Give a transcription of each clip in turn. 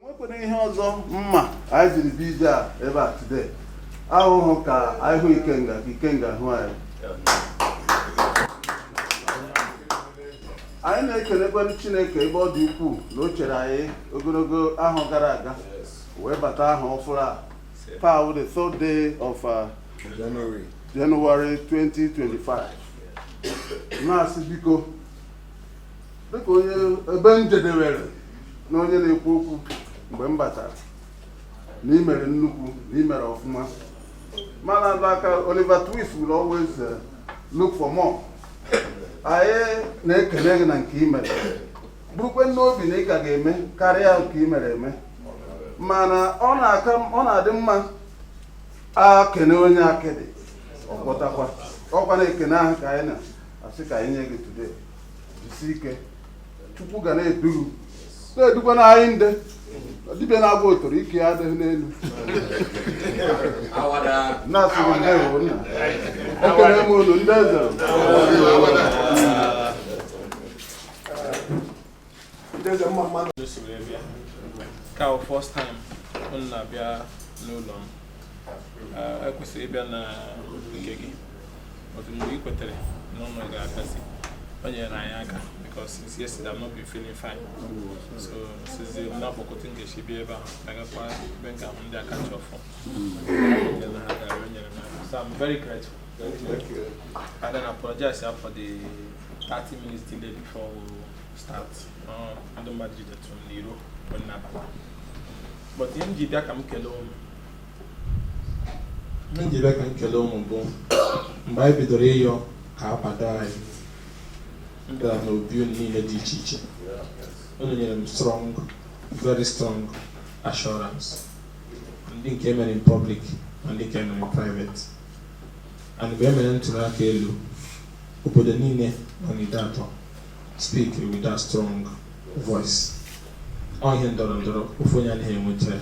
nwekwere ihe ọzọ mere anyị jiri bịa ebe a today awụghị ka anyị hụ Ikenga ka Ikenga hụ anyị anyị na-ekelekwanụ Chineke ebe ọ dị ukwuu na o chere anyị ogologo ahọ gara aga wee bata ahọ ọfụrụ a taa wụ the third day of uh, January 2025 na-asị biko dịka onye ebe m jedewere na onye na-ekwu okwu mgbe m batara na i mere nnukwu na i mere ọfụma mana alụ aka Oliver Twist will always uh, look for more anyị na-ekele gị na nke i mere burukwe n'obi na ị ka ga-eme karịa nke i mere eme mana ọ na-aka ọ na-adị mma e kene onye akịdị ọ gwọtakwa ọ kwa ekene ahụ ka anyị na asị ka anyị nye gị today jisi ike Chukwu ga na-edu gị na-edukwa na anyị ndị dibịa na-agwọ ọtọrọ ike ya adịghị n'elu na-asị gị ndewo nna ekele m unu ndị eze ka ọ first time unu na-abịa n'ụlọ m ekwesịrị ịbịa na nke gị otu mgbe ị kwetere na unu ga-abịazi o nyere anyị aka because since yesterday I've not been feeling fine so sizi m na-akpọkọta nkechi bịa ebe ahụ agakwa ebe nke ahụ ndị aka ji ọfọ nyere ha gara o nyere m aka so I'm very grateful and then apologize for the 30 minutes delay before we start uh, ndị mmadụ jidetụ n'iro mgbe m na-abata but ihe m ji bịa ka m kelee unu ihe m ji bịa ka m kelee unu bụ mgbe anyị bidoro ịyọ ka a kwado anyị m gara n'obi unu niile dị iche iche unu nyere m strong very strong assurance ndị nke mere in public na ndị nke mere in private And mgbe e mere ntụrụ aka elu, obodo niile nọ n'Ideatọ speak with that strong voice. Ọ ihe ndọrọ ndọrọ ofu onye anaghị enweta ya.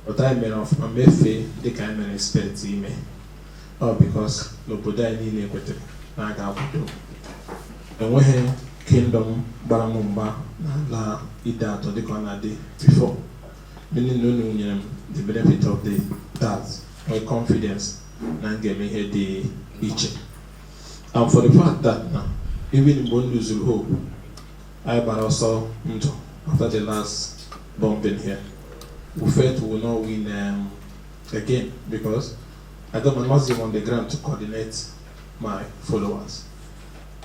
But anyị mere ọfụma mefee dịka anyị mere expect ime. Ọ because na obodo anyị niile kwetara na a ga-akwado. Enweghị kingdom gbara m mgba na Ideatọ dịka ọ na-adị before. Meaning na unu nyere m the benefit of the doubt, my confidence na m ga-eme ihe dị iche and for the fact that na even mgbe m luzuru hope anyị gbara ọsọ ndụ after the last bombing here we felt we will not win um, again because I got my nothing on the ground to coordinate my followers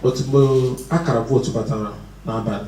but mgbe akara vootu batara n'abalị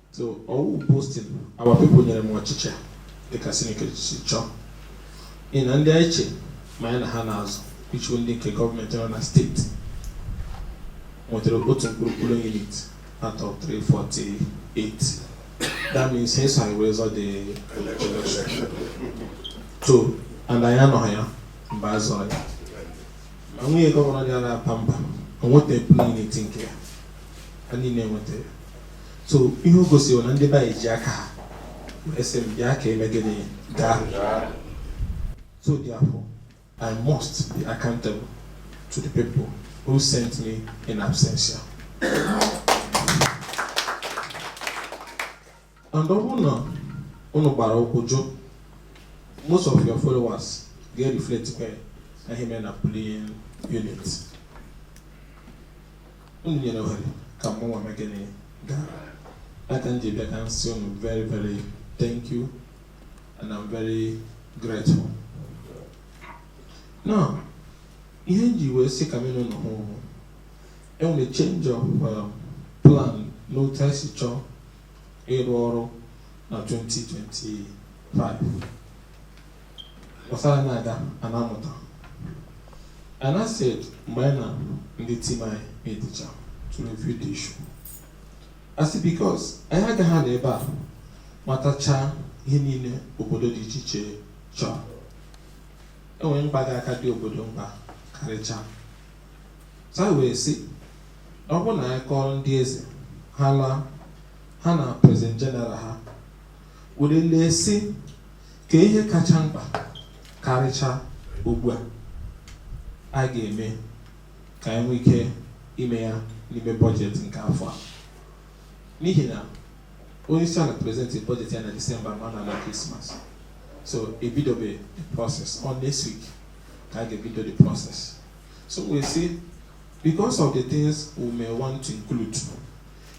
so ọ wụ boasting our people nyere m ọchịchị a dịka Chineke si chọọ ị na ndị anyị che ma anyị na ha na-azọ which wụ ndị nke gọọmenti nọ na steeti nwetara otu mkpụrụ polling unit out of 348 that means ha esoghị wee zọọ the election so and anyị anọghị ya mgbe a zọrọ ya ma nwunye gọvanọ dị na-aba mba o nwetaghị polling unit nke ya ha niile nweta ya so ihe o gosiri wụ na ndị be anyị ji aka ha wee sị m bịa ka e mee gịnị gaa so therefore I must be accountable to the people who sent me in absentia and ọ bụrụ na unu gbara ụkwụ jụọ most of your followers ga-reflect kwa n'ihe mere na polling unit unu nyere ohere ka mụnwa mee gịnị gaa ya ka m ji bịa ka m sị unu very very thank you and I'm very grateful now ihe m ji wee sị ka mụ na unu hụ enwere change of uh, plan n'otu anyị si chọọ ịrụ ọrụ na 2025 Ọ sịrị a na-aga a na-amụta. And I said mgbe anyị na ndị tim anyị meetịcha to review the issue. I said because anyị agaghị anọ ebe a matachaa ihe niile obodo dị iche iche chọọ. Enwere mkpa ga-aka adị obodo mkpa karịchaa. So anyị wee sị ọ bụrụ na anyị kọọrọ ndị eze ha laa ha na president general ha were lee sị kee ihe kacha mkpa karịcha ugbu a anyị ga-eme ka anyị nwee ike ime ya n'ime bọjetị nke afọ a n'ihi na onye isi ala presentịrị bọjetị ya na disemba ma a na-ala krismas so ebidobe the process ọ next week ka a ga-ebido the process so wee sị because of the things we may want to include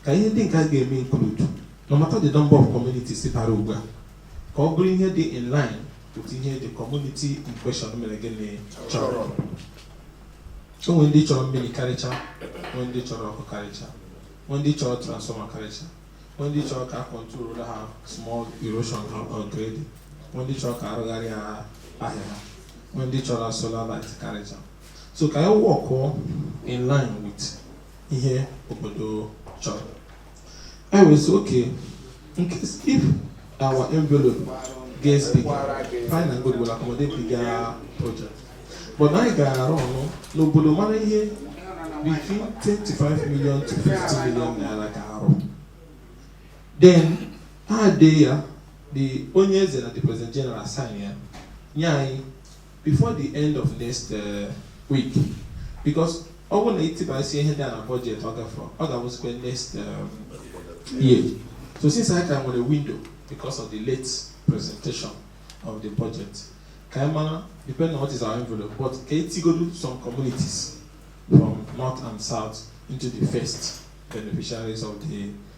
ka ihe ndị nke a ga-eme include no matter the number of communities bara ugbu a ka ọ bụrụ ihe dị in line with ihe the community in question mere gịnị chọrọ o nwere ndị chọrọ mmiri karịcha nwee ndị chọrọ ọkụ karịcha nwee ndị chọrọ transformer karịcha nwee ndị chọrọ ka a control ha small erosion ha or grading nwee ndị chọrọ ka a rụgharịa ha ahịa ha nwee ndị chọrọ solar light karịcha so ka anyị workụọ in line with ihe obodo chọrọ e wee sị okay in case if our envelope gets bigger fine and good will accommodate bigger project but anyị gaa around n'obodo mara ihe between 25 million to 50 million naira ka arụ then ha dee ya the onye eze na the president general sign ya nye anyị before the end of next uh, week because ọ bụrụ na i tibasịa ihe dị na budget ọ gafere ọ ga-abụzikwa next um, year so since anyị ka nwere window because of the late presentation of the budget ka anyị mara depending on what is our envelope but ka e tigodu some communities from north and south into the first beneficiaries of the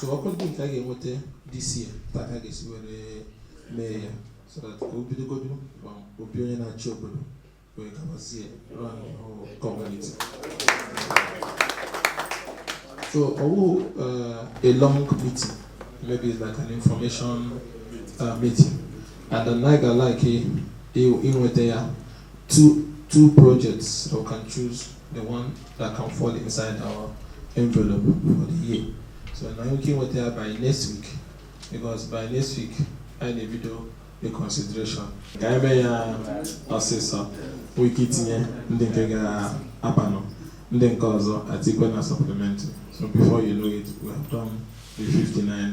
so ọkwa ndị nke a ga-enweta this year taa ka a ga-esi were mee ya so that ka o bidogodu from obi onye na-achị obodo wee gabazie round the whole community so ọ wụ uh, a long meeting maybe it's like an information uh, meeting and then I like inweta ya two two projects so we can choose the one that can fall inside our envelope for the year so now ka e nweta ya by next week because by next week anyị na-ebido the consideration ka anyị mee ya ọsịsọ nwee ike itinye ndị nke ga-abanụ ndị nke ọzọ atikwe na supplementary so before you know it we have done the 59